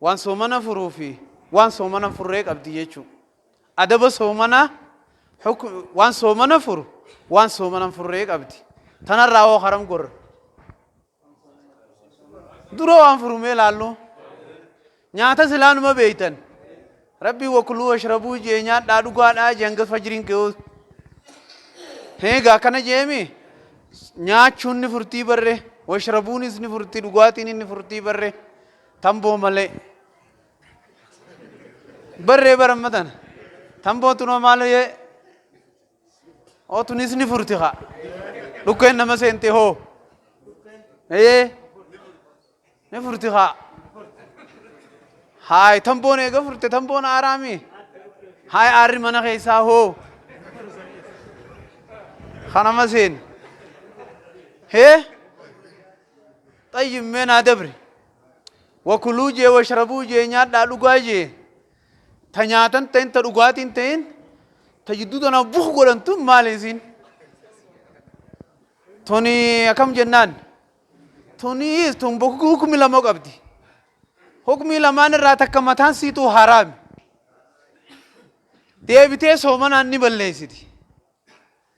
Waan soomana furuu fi waan soomana hin furree qabdi jechuu. Adaba soomanaa hukm waan soomana furu waan soomana hin furree qabdi. Tanarraa hoo haram gorra. Dura waan furumee laallu. Nyaata silaa numa beeytan. Rabbii wakuluu washrabuu jee nyaadhaa dhugaadhaa jee hanga fajriin ka'uu. Eegaa akkana jeemi nyaachuun ni furtii barre washrabuunis ni furtii dhugaatiin ni furtii barre Tamboo malee. Barree bara amma tana. Tamboo tunoo maal hoyee. Oo tunis ni furti haa. Dhukkeen nama seente hoo. Ee. Ni furti haa. Haay tamboon eega furte tamboon aaraami. Haay aarri mana keessaa hoo. Kanama seeni. Hee. Xayyib mee naa dabri. Wa kuluu jee wa sharabuu jee nyaadhaa dhugaa jee. Ta nyaatan ta'in ta dhugaatiin ta'in ta jidduu tana buk godhan tun maali isiin? Tuni akkam jennaan? Tuni tun buk- hukmi lama qabdi. Hukmii lamaan irraa takka mataan siituu haraami. Deebitee soomanaan ni balleessiti.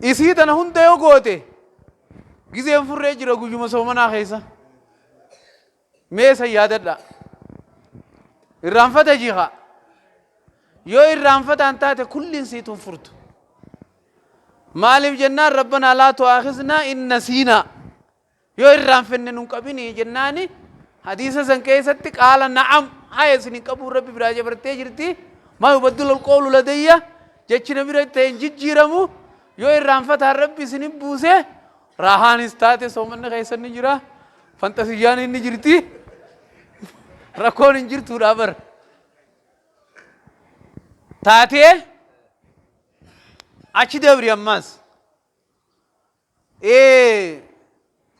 Isii tana hunda yoo goote gizeen furree jira guyyuma soomanaa keessa. Mee san yaadadha. Irraanfata jiha. Yoo irraanfataan taate kulliin siituun furtu. Maaliif jennaan rabbanaa laa tu'aakiznaa in nasiinaa. Yoo irraanfanne nun qabini jennaani hadiisa san keessatti qaala na'am haya isin hin qabuun rabbi biraa jabartee jirti maa yubaddalu alqawlu ladayya jechi na bira ta'e hin jijjiiramu yoo irraanfataan rabbi isin hin buuse raahaanis taate soomanni keessan ni jira fanxasiyyaan inni jirti rakkoon hin jirtuudha bar taatee achi dabri ammaas Ee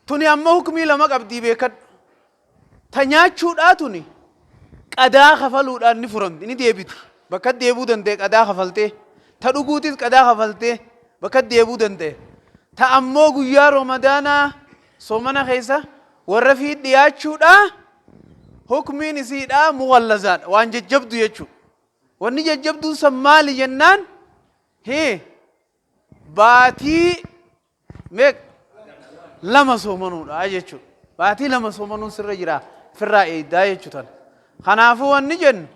tuni ammo hukmii lama qabdii beekadhu. Ta nyaachuudhaa tuni qadaa kafaluudhaan ni furamti, ni deebiti. Bakka deebuu danda'e qadaa kafaltee. Ta dhuguutis qadaa kafaltee bakka deebuu danda'e. Ta ammoo guyyaa Ramadaanaa soomana keessa warra fiit dhiyaachuudhaa hukmiin isiidhaa mughallazaadha. Waan jajjabdu jechuudha. Wanni jajjabduun san maali jennaan? Hii. baatii meeq lama soomanuudha jechuudha. Baatii lama soomanuun sirra jira firraa eeydaa jechuu tana. Kanaafuu wanni jennu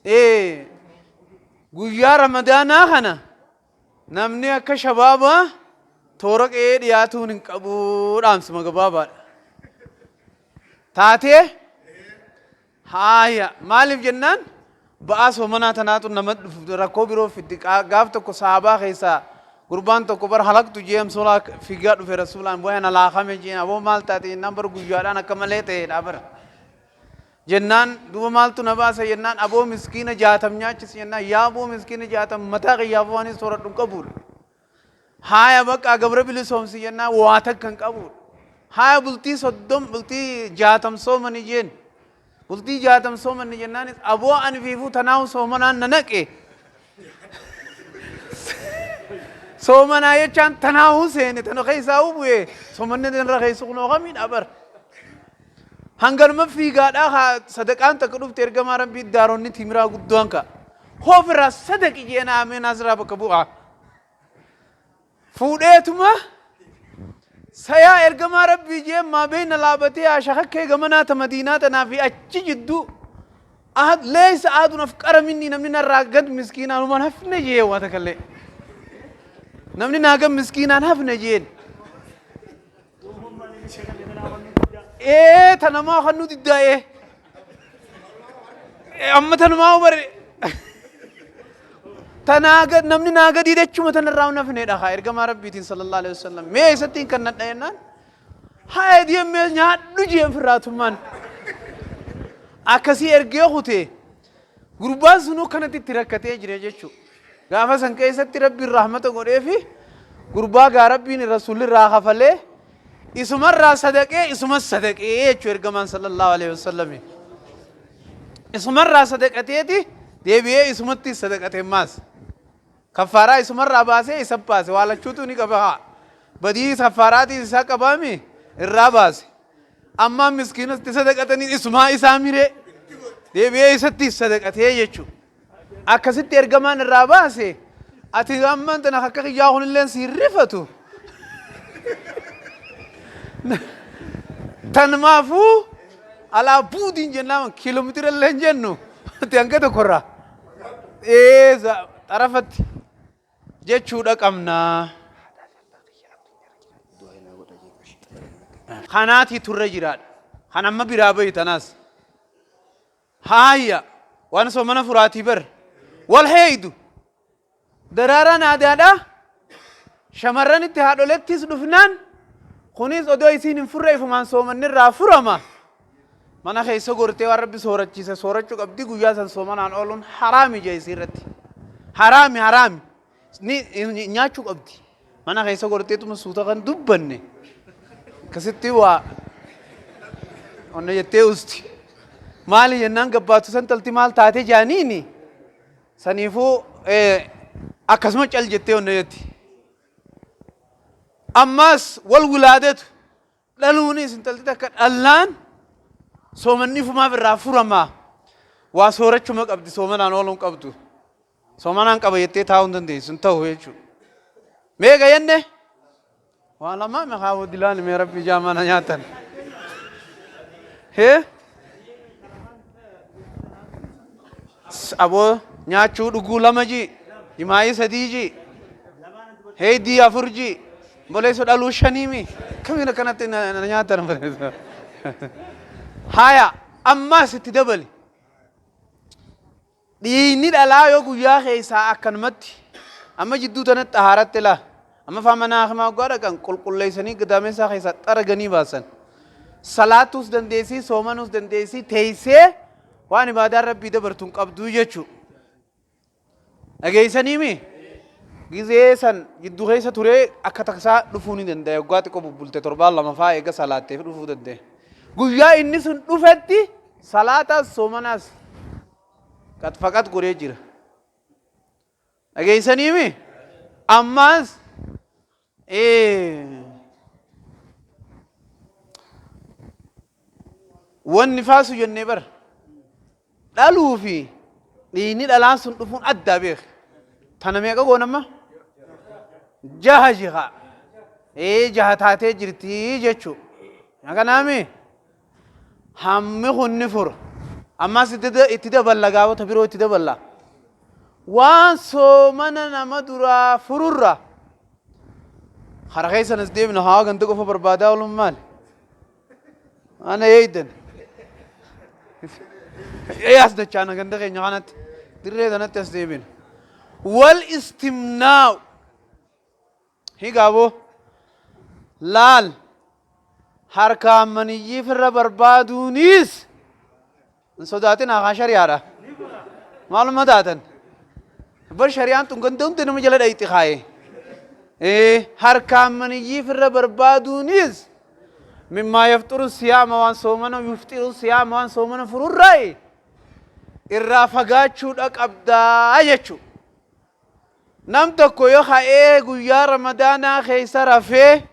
ee guyyaa ramadaanaa kana namni akka shabaabaa toora qe'ee dhiyaatuun hin qabu dhaamsuma gabaabaadha. Taatee Haaya maaliif jennaan ba'aa soomanaa tanaatu nama rakkoo biroo fiddi gaaf tokko sahaabaa keessaa gurbaan tokko bar halaktu jee amsoolaa figaa dhufe rasuulaan bu'ee na laakame jeen aboo maal taate jennaan bar guyyaadhaan akka malee ta'eedha bar jennaan duuba maaltu na baasa jennaan aboo miskiina jaatam nyaachis jennaan yaa aboo miskiina jaatam mataa kiyyaaf waanis sooradhu hin qabuudha Haaya baqqaa gabra bilisoomsi jennaan waa takka hin qabuudha. Haaya bultii soddom bultii jaatam soomani jeen. Bultii jaatam soomanni jennaanis aboo ani fiifuu tanaahu soomanaan na naqe. Soomanaa jechaan tanaahu seene tana keessaa bu'e soomanni irra keessu kunoo kamiidha bar. Hanganuma fiigaadhaa haa sadaqaan takka dhufte ergamaa rabbii daaronni timiraa guddoon ka'a. Hoofirraa sadaqi jeena ameenaas irraa bakka bu'aa. fuudheetuma sayaa ergamaa rabbii jee maa beeyna laabatee haa shakakkee gamanaa ta madiinaa tanaa fi achi jidduu ahad leeysa ahadun afqara minni namni narraa gad miskiinaan human hafne jee waa takallee namni naa gad miskiinaan hafne jeen ee tanamaa kan nu diddaa ee Ee, amma tanumaa bare tanaa gad namni naa gadii dachuma tanarraa hin hafneedha haa ergamaa rabbiitiin sallallahu alaihi wasallam mee eessattiin kan nadha jennaan haa ediyemmee nyaadhu jeen firraatummaan akkasii ergee kutee Gurbaan sun akkanatti itti rakkatee jira jechuudha. Gaafa san keessatti rabbiin rahmata godheefi gurbaa gaa rabbiin rasuulli irraa kafalee isumarraa sadaqee isumas sadaqee jechuu ergamaan sallallahu alaihi wasallami. Isumarraa sadaqateeti deebi'ee isumatti sadaqate maas. Kaffaaraa isumarraa baasee isa baase waa lachuutuu ni qaba haa badii kaffaaraatiis isaa qabaa mi irraa baase ammaa miskiinatti sadaqatanii isumaa isaa miree deebi'ee isatti sadaqatee jechuu akkasitti ergamaan irraa baase ati ammaan tana akka kiyyaa kunilleen si hin rifatu tanmaafuu alaa buudiin jennaan kiiloomeetira illee hin jennu ati hanga tokkorraa. ee za- xarafatti jechuudha qabnaa. Kanaati turre jiraadha. Kan amma biraa bahi tanaas. Haaya waan soomana furaatii bar. Wal heeydu. Daraaraan aadaadhaa shamarranitti haadholettis dhufnaan kunis odoo isiin hin furre ifumaan soomanni irraa furama. Mana keessa gortee waan rabbi soorachiise soorachuu qabdi guyyaa san soomanaan ooluun haraami jee isii irratti. Haraami haraami ni ni- nyaachuu qabdi. Mana keessa gorteetuma suuta kan dubbanne akkasitti waa onna jettee usti. Maali jennaan gabbaatu san talti maal taate jaaniini. Saniifuu akkasuma cal jettee onna jetti. Ammaas wal wilaadetu dhaluunis intalti takka dhallaan soomanni fumaaf irraa furamaa waa soorachuma qabdi soomanaan ooluun qabdu. Soomanaan qaba jettee taa'uu hin dandeessu hin ta'u jechuudha. Meeqa jenne? Waa lamaa na haa wadilaani mee rabbi ijaa mana nyaatan. Hee? Aboo nyaachuu dhuguu lama jii. Jimaayii sadii jii. Heeydii afur jii. Boleessu dhaluu shanii mi. Kamiin akkanatti na na nyaatan. Haaya ammaas itti dabali. Dhiiyni dhalaa yoo guyyaa keessaa akkanumatti amma jidduu tanatti xahaaratti laa amma faa mana haakimaa hoggaa dhaqan qulqulleessanii gadaameessaa keessaa xaraganii baasan salaatuus dandeessii soomanuus dandeessii teessee waan ibaadaan rabbii dabartu hin qabduu jechuu dhageessanii mi gizee san jidduu keessa turee akka taksaa dhufuu ni danda'e hoggaa xiqqoo bubbulte torbaan lama faa eega salaatteef dhufuu danda'e guyyaa inni sun dhufetti Salaatas soomanaas qad faqad godhee jira. Dhageessaniimi? Ammaas wanni faasu jennee bar dhaluu fi dhiigni dhalaan sun dhufuun addaa beeke. Tana meeqa goonamma? Jaha jihaa. Ee jaha taatee jirti jechuu. Kanaami Hammi kun ni fura. Ammas itti da- itti daballa gaafota biroo itti daballa. Waan soomana nama duraa fururra. Kara keessan as deemna haa ganda qofa barbaadaa oolun maali? Ana eeydan. Ee as dachaana ganda keenya kanatti. Dirree tanatti as deebina. Wal istimnaa'u. Higa aboo. Laal! Harkaan maniyyii firra barbaaduuniis hin sodaatinaa kaa shari'aadha. Maalumma taatan? Bar shari'aan tun ganda hunda nama jala dhayxi kaa'e. Ee, harkaan maniyyii firra barbaaduuniis mimmaa yafxuru siyaama waan soomana yufxiru siyaama waan soomana fururraayi irraa fagaachuudha qabdaa jechuu. Nam tokko yo ka'ee guyyaa ramadaanaa keessa rafee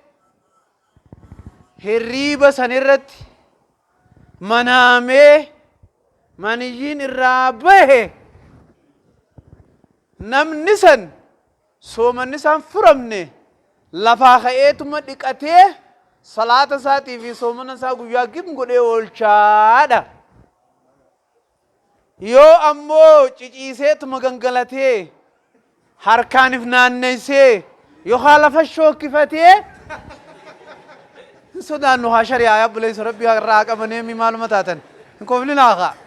hirriiba san irratti manaamee maniyyiin irraa bahe namni san soomanni isaan furamne lafaa ka'eetuma dhiqatee salaata isaatii fi soomana isaa guyyaa gim godhee oolchaadha. Yoo ammoo ciciiseetuma gangalatee, harkaan if naanneessee yookaa lafa shookkifatee hin sodaannu kaa shari'aaya obboleessa rabbi irraa haa qabaneemi maaluma taatan hin koflinaa kaa.